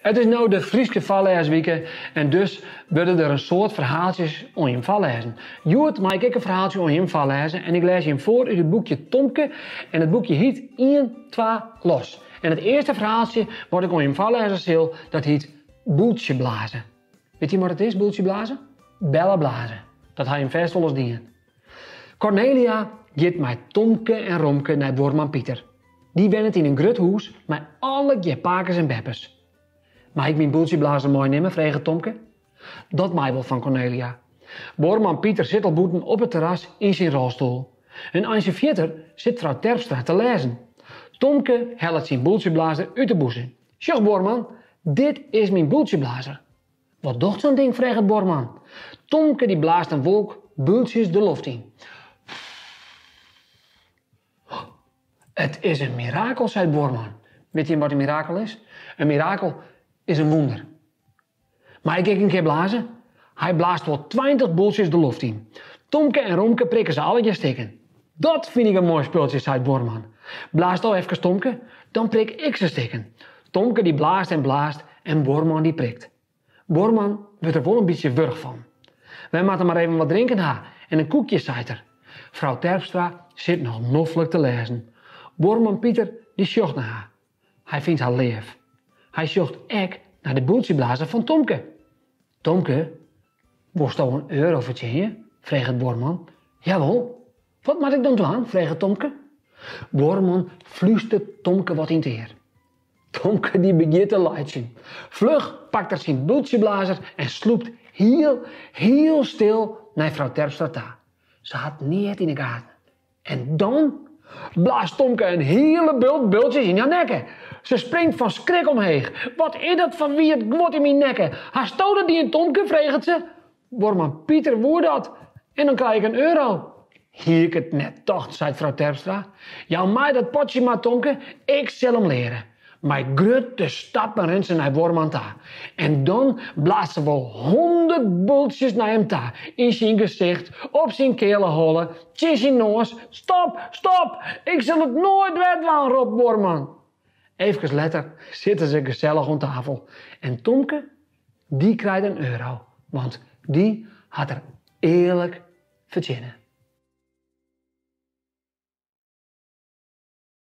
It is no de Fryske foarlêswike en dus wurde der in soad ferhaaltsjes oan jim foarlêzen. Hjoed mei ik ek in ferhaaltsje oan jim foarlêze en ik lês jim foar út it boekje Tomke en it boekje hiet Ien, twa, los. En it earste ferhaaltsje wat ik oan jim foarlêze sil, dat hiet Boeltsje blaze. Wit jim wat it is, boeltsje blaze? Belle blaze. Dat ha jim fêst wolris dien. Cornelia giet mei Tomke en Romke nei buorman Piter. Dy wennet yn in grut hûs mei allegear pakes en beppes. Mei ik myn boeltsjeblazer meinimme? freget Tomke. Dat mei wol fan Cornelia. Buorman Piter sit al bûten op it terras yn syn rolstoel. In eintsje fierder sit frou Terpstra te lêzen. Tomke hellet syn boeltsjeblazer út de bûse. Sjoch buorman, dit is myn boeltsjeblazer. Wat docht sa'n ding, freget buorman. Tomke dy blaast in wolk boeltsjes de loft yn. It is in mirakel, seit buorman. Wit jim wat in mirakel is? In mirakel is in wûnder. Mei ik ek in kear blazen? Hy blaast wol tweintich boeltsjes de loft yn. Tomke en Romke prikken se allegear stikken. Dat fyn ik in moai spultsje, seit buorman. Blaas do efkes Tomke, dan prik ik se stikken. Tomke dy blaast en blaast en buorman dy prikt. Buorman wurdt der wol in bytsje wurch fan. Wy moatte mar even wat drinken ha en in koekje, seit er. Frou Terpstra sit noch noflik te lêzen. Buorman Piter dy sjocht nei har. Hy fynt har leaf. Hy sjocht ek nei de boeltsjeblazer fan Tomke. Tomke, wolsto in euro fertsjinje? freget buorman. Jawol. Wat moat ik dan dwaan? freget Tomke. Buorman flústert Tomke wat yn it ear. Tomke dy begjint te laitsjen. Fluch pakt er syn boeltsjeblazer en slûpt hiel, hiel stil nei frou Terpstra ta. Se hat neat yn de gaten. En dan blaast Tomke in hiele bult boeltsjes yn har nekke. Se springt fan skrik omheech. Wat is dat foar wiet guod yn myn nekke? Hasto dat dien, Tomke? freget se. Buorman Piter woe dat. En dan krij ik in euro. Hie ik it net tocht, seit frou Terpstra. Jou my dat potsje maar, Tomke. Ik sil him leare. Mei grutte stappen rint se nei buorman ta en dan blaast se wol hûndert boeltsjes nei him ta, yn syn gesicht, op syn keale holle, tsjin syn noas. Stop! Stop! Ik sil it noait wer dwaan! ropt buorman. Efkes letter sitte se gesellich oan tafel en Tomke, dy krijt in euro, want dy hat er earlik fertsjinne.